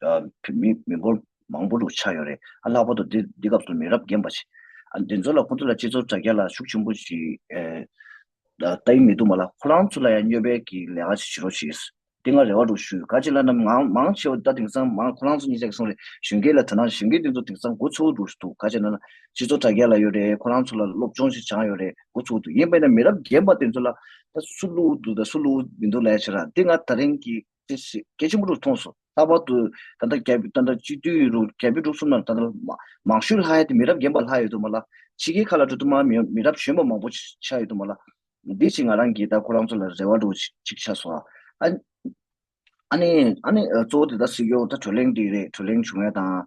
བོད་མི་མི་འབོར་མང་པོ་རུ་ཆགས་ཡོད་རེད་ཨ་ལྷག་པར་དུ་འདི་འདི་སྐབས་སུ་མི་རབས་རྒན་པ་ཞིག་ཨ་འདི་ཚོ་ལ་ཁོང་ཚོ་ལ་སྤྱི་ཚོགས་དྲ་རྒྱ་ལ་ཤུགས་ཆེན་པོ་ཞིག་ལྟ་ཡི་མི་འདུག་མ་ལ་ཁོ་རང་ཚོ་ལ་ཡང་སྨྱོ་སྦེད་ཀྱི་ལས་ཀ་ཞིག་བྱེད་རོགས་ཞེས་དེ་སྔ་རེ་བ་རུ་ཞུས་ག་ཅིག་ལ་ནམ་ཡང་མང་ཆེ་བ་ད་དེང་སང་མང་ཁོ་རང་ཚོ་གཉིས་ཅག་གི་གསུང་རེད་གཞོན་སྐྱེས་ལ་དོན་ན་གཞོན་སྐྱེས་དེ་ཚོ་དེང་སང་འགོ་ཚུགས་འདུག་འདུག་ག་ཅིག་ན་ན་སྤྱི་ཚོགས་དྲ་རྒྱ་ལ་ཡོད་རེད་ཁོ་རང་ཚོ་ལ་སློབ་སྦྱོང་ཞིག་སྦྱངས་ཡོད་རེད་འགོ་ཚུགས་འདུག་ཡིན་པས་ན་མི་རབས་རྒན་པ་དེ་ཚོ་ལ་ད་སུ་བསླུ་འདུག་ད་སུ་བསླུ་མི་འདུག་ལས་བྱེད་ར་འདི་སྔ་ད་རིང་གི་ཅེས་སོ། སྐད་ཆེན་པོ་དྲུག་ཐོངས་སོ། ལྷག་པར་དུ། ད་ལྟ་རྒྱལ་པོའི་སྟོན་ཟླ་སྤྱི་འཐུས་རུ་རྒྱལ་པོའི་འབྲུག་གསུམ་ན་ད་ལྟ་མང་ཤོས་ལྷ་ཡ་དེ་མི་རབས་རྒན་པ་ལྷ་ཡོད་དུ་མ་ལ། ཕྱི་རྒྱལ་ཁག་ལ་འགྲོ་དུ་མ་མི་རབས་གཞོན་པ་མང་པོ་ཆགས་ཡོད་དུ་མ་ལ། དེའི་ཕྱིར་ང་རང་གིས་ད་ཁོ་རང་ཚོ་ལ་རེ་བ་འགྲོ་བོ་ཅིག་ཆགས་སོང་ཨ། ཨ་ནི། ཨ་ནི། གཙོ་བོ་དེ་ད་སྲིད་སྐྱོང་ད་བགྲོ་གླེང་དེ་རེད་བགྲོ་གླེང་བྱུང་ཡ་དང།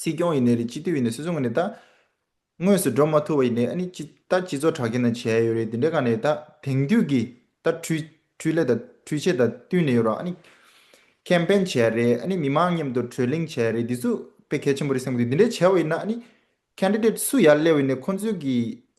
སྲིད་སྐྱོང་ཡིན་ནས་རེད་སྤྱི་འཐུས་ཡིན་ནས་སུད་སུ་ངོས་ནས་ད། དངོས་སུ་འགྲོ་མ་ཐུབ་པ་ཡིན་ནས་ཨ་ནི་སྤྱི་ད་སྤྱི་ཚོགས་དྲག་སྐྱེད་ན་བྱས་ཡོད་རེད་དེ་འདྲས་ག་ནས་ད་དེང་དུས་ཀྱི་ད་འཕྲུལ་འཕྲུལ་ལས་ད་འཕྲུལ་ཆས་ད་བསྟུན་ནས་ཡོད་རོགས་ཨ་ནི། ཁེམ་པེན་བྱས་རེད་ཨ་ནི་མི་མང་མཉམ་དུ་གྲོས་གླེང་བྱས་རེད་འདི་ཚོ་དཔེ་གལ་ཆེན་པོ་རེད་སེམས་གི་འདུག་འདི་འདྲས་བྱས་པ་ཡིན་ན་ཨ་ནི། Candidate སུ་ཡར་སླེབས་ཡིན་ནས་ཁོང་ཚོའི་གི་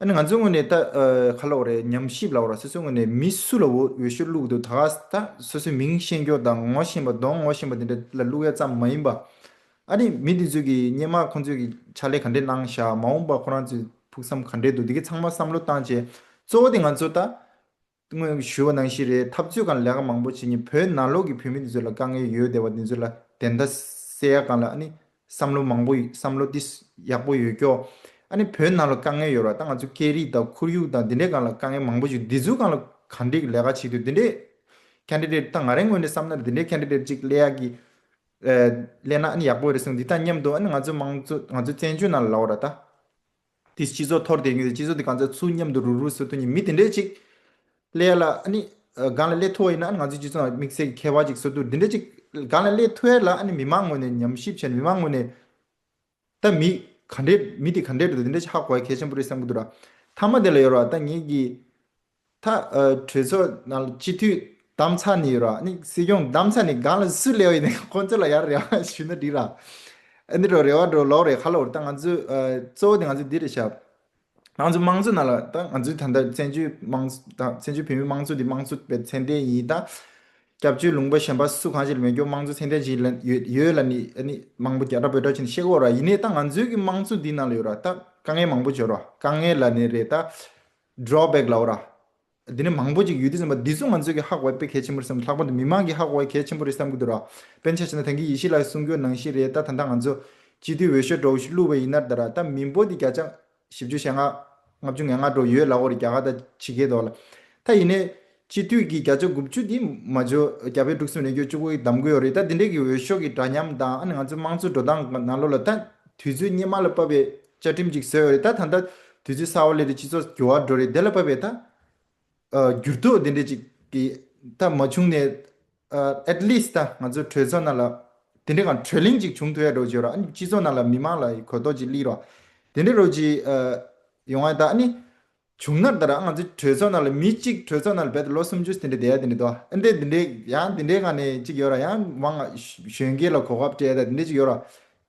ཨ་ནི་ང་ཚོའི་ངོས་ནས་ད་ཁ་ལོག་རེད་སྙམ་ཞིབ་ལ་བོར་སོ་སོའི་ངོས་ནས་མི་སུ་ལ་འོས་ཤོག་བླུག་འདུག་ད་ལྟ་སོ་སོའི་མིང་ཤེས་མགྱོགས་དང་ངོ་ཤེས་པ་གདོང་ངོ་ཤེས་པ་དེ་འདྲ་ལ་བླུག་ཡ་ཙམ་མ་ཡིན་པ། ཨ་རི་མི་དེ་ཚོས་ཀྱི་སྙན་མ་ཁོང་ཚོས་ཀྱི་ཕྱག་ལས་ག་འདྲས་གནང་བཞག་མ་འོངས་པ་ཁོ་རང་ཚོའི་ཕུགས་བསམ་ག་འདྲས་འདུག་དེ་གི་ཚང་མ་བསམ་བློ་བཏང་བྱས་གཙོ་བོ་དེ་ང་ཚོ་ད་སྔོན་གྱི་ཞུ་བ་ནང་བཞིན་རེད་འཐབ་རྩོད་གང་ལེགས་ཀ་མང་པོ་བྱེད་ཉིན་བོད་ནང་ལོགས་ཀྱི་བོད་མི་དེ་ཚོ་ལ་དཀའ་ངལ་ཡོད་བསྡད་པ་དེ་ཚོ་ལ་དེ་འདྲ་སེ་ཡ་གང་ལ་ཨ་ནི་བསམ་བློ་མང་པོ་བསམ་བློ་དེ་ཡག་པོ་ཡོད་ཀྱོ། ཨ་ནི་བོད་ནང་ལ་དཀའ་ངལ་ཡོད་ར་ད་ང་ཚོ་སྐད་རིགས་དང་ཁོར་ཡུག་དང་དེ་འདྲས་གང་ལ་དཀའ་ངལ་མང་པོ་བྱུང་དེ་ཚོ་གང་ལ་ག་འདྲས་ལས་ཀ་བྱེད་དུས་དེ་འདྲས Candidate ད་ང་རེ་ངོས་ནས་བསམ་ན་དེ་འདྲས Candidate ཅིག་སླེ་ཡག་གི་སླེ་ན་ཨ་ནི་ཡག་པོ་རེད་གསུངས་དེ་དང་མཉམ་དུ་ཨ་ནི་ང་ཚོ་དམངས་གཙོ་ང་ཚོ་བཙན་བྱོལ་ནང་ལ་ལོགས་ར་ད། དེས་སྤྱི་ཚོགས་འཐོར་དེ་གིས་སྤྱི་ཚོགས་དེ་གང་ཚ་ཚུལ་མཉམ་དུ་རུལ་རུལ་ཟེར་དོན་གྱི་མི་དེ་འདྲས་ཅིག། ཀླད་ལ་ཨ་ནི། སྒང་ལ་ཀླད་མཐོ་བ་ཡིན་ན་ཨ་ནི་ང་ཚོའི་སྤྱི་ཚོགས་ནང་དམིགས་བསལ་གྱི་ཁྱད་པར་ཅིག་བཟོ་ཐུབ་དེ་འདྲས་ཅིག། སྒང་ལ་ཀླད་མཐོ་བས་ལ་ཨ་ནི་མི་དམངས་ངོས་ནས་ཉམས་ཞིབ་བྱས་ནས་མི་དམངས་ངོས་ནས། ད་མི། ག་འདྲས་མི་དེ་ག་འདྲས་འགྲོ་འདུག་དེ་འདྲས་ཅིག་ཧ་གོ་བ་གལ་ཆེན་པོ་རེད་བསམ་གྱི་འདུག་ད། མཐའ་མ་དེ་ལ་ཡོར་བ་ད་ངེད་ཀྱིས། མཐའ། གྲོས་ཚོགས་ནང་སྤྱི་འཐུས་གདམ་ཚ་ནི་ཡོད་ར་ནི་སྲིད་སྐྱོང་གདམ་ཚ་ནི་གང་ལ་སུ་ལས་བ་ཡིན་ཁོ་ཚོ་ལ་ཡར་རེ་བ་ཞུས་ན་འགྲིག་ར། འདི་འགྲོ་རེ་བ་འགྲོ་ལོག་རེ་ཁ་ལོག་རེ་ད་ང་ཚོས་གཙོ་བོ་དེ་ང་ཚོས་འདི་རེ་བྱ། ང་ཚོ་དམངས་གཙོ་ནང་ལ་ད་ང་ཚོས་ད་ལྟ་བཙན་བྱོལ་དམངས་ད་བཙན་བྱོལ་བོད་མིའི་དམངས་གཙོ་འདི་དམངས་གཙོ་བའི་མཚན་ལྡན་ཡིན་ད། སྐྱབས་བཅོལ་ལུང་པ་གཞན་པ་སུ་གང་ཞིག་ལ་མེད་སྐྱོ་དམངས་གཙོ་མཚན་ལྡན་ཞིག་ལ་ཡོད་ཡོད་ལ་ནི་ཨ་ནི་མང་པོ་རྒྱ་གྲ་བོད་གྲ་བྱིན་ཤེས་གོ་ར་ཡིན་ནས་ད་ང་ཚོའི་གི་དམངས་གཙོ་འདི་ནང་ལ་ཡོད་ར་ད་དཀའ་ངལ་མང་པོ་བྱོ་ར་དཀའ་ངལ་ལ་ནི་རེ་ད། Drawback ལའོ་ར། འདི་ནི་མང་པོ་ཅིག་ཡོད་དུས་ཟིན་པ་འདི་ཚོ་ང་ཚོས་ཀྱི་ཧག་བའི་དཔེ་གལ་ཆེན་པོ་རེད་བསམ་ལྷག་པར་དུ་མི་དམངས་ཀྱི་ཧག་བའི་གལ་ཆེན་པོ་རེད་བསམ་གྱི་འདུག་ར། དཔེ་མཆན་བྱས་ན་ད་གིན་ཡེ་ཤེས་ལགས་གསུང་རྒྱུ་ནང་བཞིན་རེད་ད་ད་ལྟ་ང་ཚོ། སྤྱི་འཐུས་འོས་ཤོས་གྲོགས་ཤིག་བསླུ་བའི་ཡིན་ནར་ད་ར་ད་མི་འབོར་དེ་བརྒྱ་ཆ། བཞི་བཅུ་ཞེ་ལྔ། ལྔ་བཅུ་ངན་ལྔ་འགྲོ་ཡོད་ལ་འོ་རེད་རྒྱ་གར་ད་ཇི་སྐད་དོ་ལ། ད་ཡིན་ནའི། སྤྱི་འཐུས་ཀྱི་བརྒྱ་ཆ་དགུ་བཅུ་དེ་མ་འཇོག་རྒྱ་བལ་འབྲུག་གསུམ་རེ་འགྱོད་བཅུ་དགུ་གདམ་དགོས་རེད་ད་དེ་འདྲའི་གི་འོས་ཤོག་གི་འདྲ་མཉམ་དང་ང་ཚོའི་དམངས་གཙོའི་འགྲོ་སྟངས་ག་ནང་ལོག་ལ་ད་དུས་ཚོད་སྙེ་མ་ལ་བབ་པའི་བཅའ་ཁྲིམས་ཅིག་བཟོས་རེད་ད་ད་ད་དུས་ཚོད་སྲ་བ་ལས་ད་སྤྱི་ཚོགས་འགྱུར་བ་འགྲོ་རེད་དེ་ལ་བབ་པའི་ད་འགྱུར་ལྡོག་དེ་འདྲའི་ཅིག་གི་ད་མ་བྱུང་ནས at least ད་ང་ཚོའི་གྲོས་ཚོགས་ནང་ལ་དེ་འདྲའི་གང་གྲོས་གླེང་ཅིག་བྱུང་ཐུབ་ཡ་རོགས་གྱིས་རོགས་ཨ་ནི་སྤྱི་ཚོགས་ནང་ལ་མི་མང་ལ་གོ་རྟོགས་ཅིག་གླིགས་རོགས་དེ་འདྲའི་རོགས་གྱིས་ཡོང་ཨ་ད་ཨ་ནི་བྱུང་ན་ད་ར་ང་ཚོས་གྲོས་ཚོགས་ནང་ལ་མི་གཅིག་གྲོས་ཚོགས་ནང་ལ་བེད་དུ་ལོ་སུམ་ཅུ་དེ་འདྲའི་བསྡད་ཡ་དེ་འདྲའི་དོ་ཨ་འདྲའི་དེ་འདྲའི་ཡང་དེ་འདྲའི་ང་ནས་གཅིག་ཡོད་ར་ཡང་མང་ང་གཞོན་སྐྱེས་ལ་གོ་སྐབས་སྤྲད་ཡ་ད་དེ་འདྲའི་གཅིག་ཡོད་ར་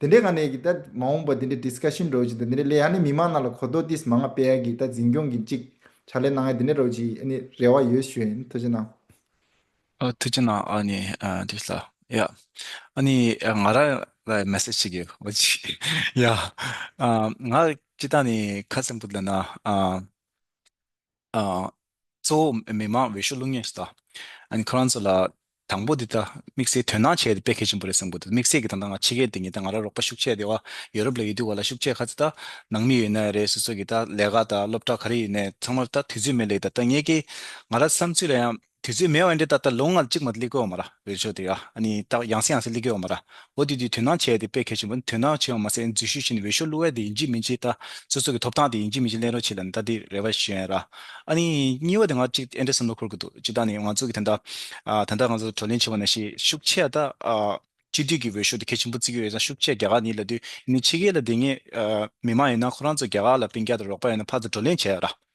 དེ་འདྲའི་ང་ནས་གི་ད་མ་འོངས་པ་དེ་འདྲའི Discussion འགྲོ་གཅིག་ད་དེ་འདྲའི་ལས་ཡ་ནི་མི་མང་ནང་ལ་གོ་ལྡོག་དིས་མ་ང་སྤེལ་ཡ་གི་ད་འཛིན་སྐྱོང་གི་གཅིག་ཕྱག་ལས་གནང་ཡ་དེ་འདྲའི་རོགས་གཅིག་ཨ་ནི་རེ་བ་ཡོད་ཞུ་ཡ་ཨ་ནི་ཐུགས་རྗེ་གནང། ཨ་ཐུགས་ཆེ་ན་ཨ་ནི་དེ་ལ་ཡ་ཨ་ནི་ང་ར་ལ་མེ་སི་ཅི་གི་ཨོ་ཅི་ཡ་ཨ་ང་ཅི་ད་ནི་ཁ་སིམ་པོ་ལ་ན་ཨ་ཨ་ཚོ་མི་མང་བེ་ཤུ་ལུང་ཉེ་སྟ་ཨ་ནི་ཁོ་རང་ཚོ་ལ་དང་པོ་དེ་ད་དམིགས་བསལ་དོན་སྣང་བྱས་ཏེ་དཔེ་ཁེ་ཆེན་པོ་རེ་གསུངས་པོ་ཏེ་དམིགས་བསལ་གྱི་ད་ང་ཕྱི་རྒྱལ་དེ་ཉིད་ད་ང་ར་རོགས་པ་ཤུགས་ཆེ་དེ་བ་ཡོ་རུབ་ལ་ཡི་དུས་བ་ལ་ཤུགས་ཆེ་ཁ་ཚི་ད་ནང་མི་ཡོད་ན་རེ་སོ་སོ་གི་ད་ལས་ཀ་ད་སློབ་གྲ་ག་རེ་ཡིན་ནས་ཚང་མ་ད་དུས་ཚོད་མེད་ལེགས་ད་ད་ངེད་ཀྱི་ང་ར་བསམ་ཚུལ་ལ་ཡང་དུས་ཚོད་མེད་བས་འདི་ད་ལྟ་ལོ་ལྔ་གཅིག་མ་གླི་གོ་མ་ར་བས་ཆོག་དེ་ཨ་ནི་ཏག་ཡང་སེ་ཡང་སེ་གླི་གོ་མ་ར་འོ་དེ་དུས་དུད་ནག་ཆེ་དེ་དཔེ་གལ་ཆེན་པོ་ནི་དུད་ནག་ཆེ་བ་མ་ཟད་འཛུལ་ཞུགས་བྱེད་ནི་འོས་ཤོག་བླུ་བས་དེ་ཡིན་གྱི་མིན་གྱི་ད་སོ་སོ་གི་ཐོབ་ཐང་དེ་ཡིན་གྱི་མིན་གྱི་གླེང་རོགས་བྱེད་ལ་ད་དེ་རེ་བ་ཞེན་ར་ཨ་ནི་གཉིས་བ་དེ་ང་གཅིག་ཨེ་འདྲ་བསམ་བློ་འཁོར་གི་འདུག་གཅིག་ད་ནི་ང་ཚོ་གི་ད་ད་ད་ང་ཚོ་བགྲོ་གླེང་བྱེད་པ་ན་ཤི་ཤུགས་ཆེ་ད་སྤྱི་འཐུས་ཀྱི་འོས་ཤོག་དེ་གལ་ཆེན་པོ་བརྩི་གི་ཡོད་ད་ཤུགས་ཆེ་རྒྱ་གར་ནི་ལ་དུས་ཡིན་ནི་ཕྱི་རྒྱལ་ལ་དེ་ངས་མི་མང་ཡིན་ན་ཁོ་རང་ཚོ་རྒྱ་གར་ལ་བན་རྒྱ་དང་རོགས་པ་ཡིན་ན་ཕར་ཚུར་བགྲོ་གླེང་བྱེད་ར།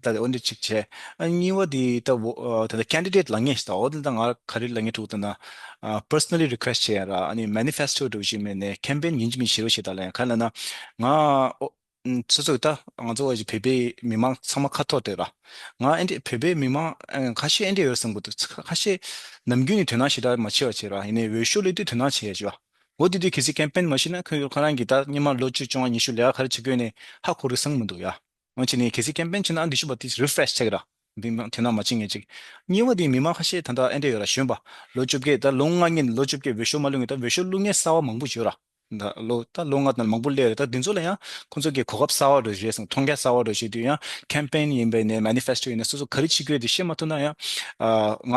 ད་དེ་འོ་འདི་གཅིག་བྱས། གཉིས་བ་དེ་ད་བོ་དེ་ད Candidate ལ་ངས་ཟློག་འོ་འདི་ད་ང་ག་རེ་ལ་ངས་ཐུག་ད་ན Personally Request བྱས་ཡ་ར་ཨ་ནི Manifesto འགྲོ་བཞིན་མེད་ནས Campaign ཡིན་གྱི་མིན་ཞེས་རོ་ཞེས་ད་ལ་ཡང་ག་རེ་ལ་ན་ང་སོ་སོ་གི་ད་ང་ཚོ་བོད་པའི་མི་མང་ཚང་མ་ཁ་ཐོར་དེ་ར་ང་ཨེ་འདྲས་བོད་པའི་མི་མང་ཁ་ཤས་ཨེ་འདྲས་ཡོད་བསམ་གི་འདུག་ཁ་ཤས་ནམ་རྒྱུན་ནས་དོན་སྣང་ཞེ་དྲག་མ་བྱེད་པ་བྱས་ར་ཡིན་ནས་འོས་ཤོག་སླེབས་དུས་དོན་སྣང་བྱས་ཡ་བྱས་པ་འོ་འདི་དུས་གལ་སྲིད Campaign མ་བྱས་ན་ཁོས་ཁོ་རང་གི་ད་སྙེ་མ་ལོ་བཅུ་བཅོ་ལྔ་ཉི་ཤུ་ལས་ཀ་ག་རེ་བྱེད་དགོས་ནས་ཧ་གོ་རི་སང་མི་འདུག་ཡ། ང་ཅིག་ནས་གལ་སྲིད་ཀེམ་པེན་བྱེད་ན་འགྲིག་ཤོས་པ་དེ Refresh ཚེག་ར་འདི་ནང་དེ་ནང་མ་བྱེད་ངེས་ཅིག་གཉིས་བ་དེ་མི་མང་ཁ་ཤས་ད་ལྟ་ཨེ་འདྲ་ཡོད་ར་གཞོན་པ་ལོ་བཅོ་བརྒྱད་ད་ལོ་ལྔ་ཉིན་ལོ་བཅོ་བརྒྱད་འོས་ཤོག་མ་ལུས་ངེས་ད་འོས་ཤོག་བླུག་ངེས་གསར་བ་མང་པོ་བྱོས་ར་ད་ལོ་ད་ལོ་ལྔ་ད་མང་པོ་སླེབས་རེད་ད་དེ་ཚོ་ལ་ཡང་ཁོ་ཚོ་གི་གོ་སྐབས་གསར་བ་རོལ་བྱོས་སོང་མཐོང་རྒྱ་གསར་བ་རོལ་བྱོས་དུས་ཡང་ཀེམ་པེན་ཡིན་པའི་ནས Manifesto ཡིན་ནས་སོ་སོ་ག་རེ་བྱེད་དགོས་དེ་བཤད་མ་ཐུབ་ན་ཡང་ང་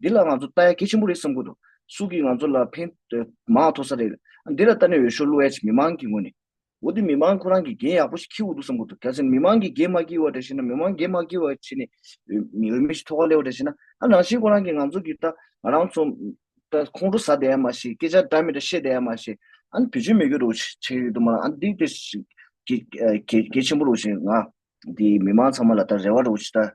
འདི་ལ་ང་ཚོ་ལྟ་ཡ་གལ་ཆེན་པོ་རེད་བསམ་ཁོ་ཐུབ། སུ་གིས་ང་ཚོ་ལ་ཕན་མང་མཐོ་ས་རེད། འདི་ལ་ལྟ་ནས་འོས་ཤོག་བླུ་ཨེ་བྱེད་མི་མང་གི་ངོས་ནས། འོ་དེ་མི་མང་ཁོ་རང་གིས་འགན་ཡག་པོ་ཞིག་འཁྱེར་འོ་འདུག་བསམ་ཁོ་ཐུབ་གལ་སྲིད་མི་མང་གིས་འགན་མ་འཁྱེར་བ་འདྲ་བྱས་ན་མི་མང་འགན་མ་འཁྱེར་བ་བྱས་ནས་འོས་མི་ཞིག་ཐོག་ཁ་སླེབས་བ་འདྲ་བྱས་ན་ཨ་རང་བཞིན་ཁོ་རང་གིས་ང་ཚོ་གིས་ལྟ་ང་རང་ཚོ་ལྟ་ཁོང་ཁྲོ་ཟ་བསྡད་ཡ་མ་བྱེད་སྐད་ཆ་འདྲ་མི་འདྲ་བཤད་བསྡད་ཡ་མ་བྱེད་ཨ་ནི་བེད་སྤྱོད་མི་དགོས་རུག་བྱེད་ཡོད་དུ་མ་རང་ཨ་འདི་དེ་གལ་ཆེན་པོ་རུག་བྱེད་ང་འདི་མི་མང་ཚང་མ་ལ་ལྟ་རེ་བ་རུག་བྱེད་ལྟ།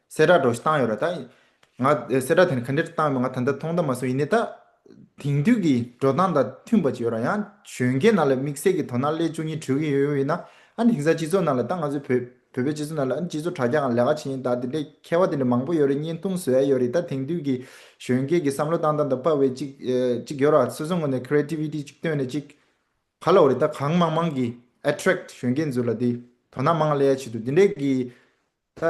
གསལ་བསྒྲགས་སྒྲོགས་གཞི་བཏང་ཡོད་ར་ད། ང་གསལ་བསྒྲགས་དེ་ནི་ག་འདྲེར་བཏང་ཡོད་པ་ང་ད་ལྟ་ཐོག་མཐའ་མ་སོན་ཡིན་ནའི་ད། དེང་དུས་ཀྱི་འགྲོ་སྟངས་དང་མཐུན་པ་ཅིག་ཡོད་ར་ཡང་གཞོན་སྐྱེས་རྣམས་ལ་དམིགས་བསལ་གྱི་དོ་སྣང་སླད་བཅུ་གཉིས་དྲུག་ཡིན་ཡོད་ཡོད་ཡིན་ན། ཨ་ནི་དེང་སང་སྤྱི་ཚོགས་ནང་ལ་ད་ང་ཚོའི་བོད། བོད་པའི་སྤྱི་ཚོགས་ནང་ལ་ཨ་ནི་སྤྱི་ཚོགས་དྲ་རྒྱ་འང་ལས་ཀ་བྱེད་ཡིན་ད་དེ་འདྲའི་མཁས་བ་དེ་འདྲ་མང་པོ་ཡོད་རེད་བརྙན་ཐུང་བཟོ་ཡ་ཡོད་རེད་ད་དེང་དུས་ཀྱི་གཞོན་སྐྱེས་ཀྱི་བསམ་བློ་བཏང་སྟངས་དང་དཔའ་བའི་ཅིག། ཅིག་ཡོད་ར་སོ་སོ་ངོས་ནས Creativity ཅིག་བཏོན་ནས་ཅིག། ག་ལ་འོ་རེད་ད་གང་མང་མང་གིས Attract གཞོན་སྐྱེས་ཚོ་ལ་དེ། དོ་སྣང་མང་ང་སླད་ཡ་བྱེད་འདུག་དེ་འདྲའི་གི། ད་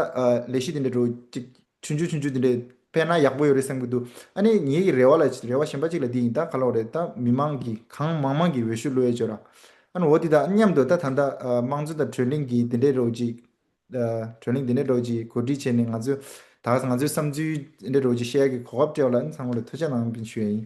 ལས་གཞི་དེ་འདྲ་འགྲོ་ཅིག། ཆུན་ཆུན་ཆུན་ཆུན་དེ་འདྲས་སྤེལ་ན་ཡག་པོ་ཡོད་རེད་བསམ་གྱི་འདུག་ཨ་ནི་ངེད་ཀྱི་རེ་བ་ལ་རེ་བ་ཞན་པ་ཅིག་ལ་འདི་ཡིན་ད་ག་ལོག་རེད་ད་མི་མང་གིས་གང་མང་མང་གིས་འོས་ཤོད་བླུ་ཡས་བྱོས་རང་ཨ་ནི་འོ་དེ་དང་མཉམ་དུ་ད་ད་ལྟ་དམངས་གཙོ་དང་གྲོས་གླིང་གིས་དེ་འདྲས་རོགས་ཅིག། གྲོས་གླིང་དེ་འདྲས་རོགས་ཅིག་གོ་སྒྲིག་བྱས་ནས་ང་ཚོས་ད་གཟ་ང་ཚོའི་བསམ་ཚུལ་དེ་འདྲས་རོགས་ཅིག་བཤད་ཡག་གི་གོ་སྐབས་སྤྲད་བ་ལ་ཨ་ནི་ཚང་མ་ལ་ཐུགས་ཆ་གནང་ཞུ་ཡས་ཡིན།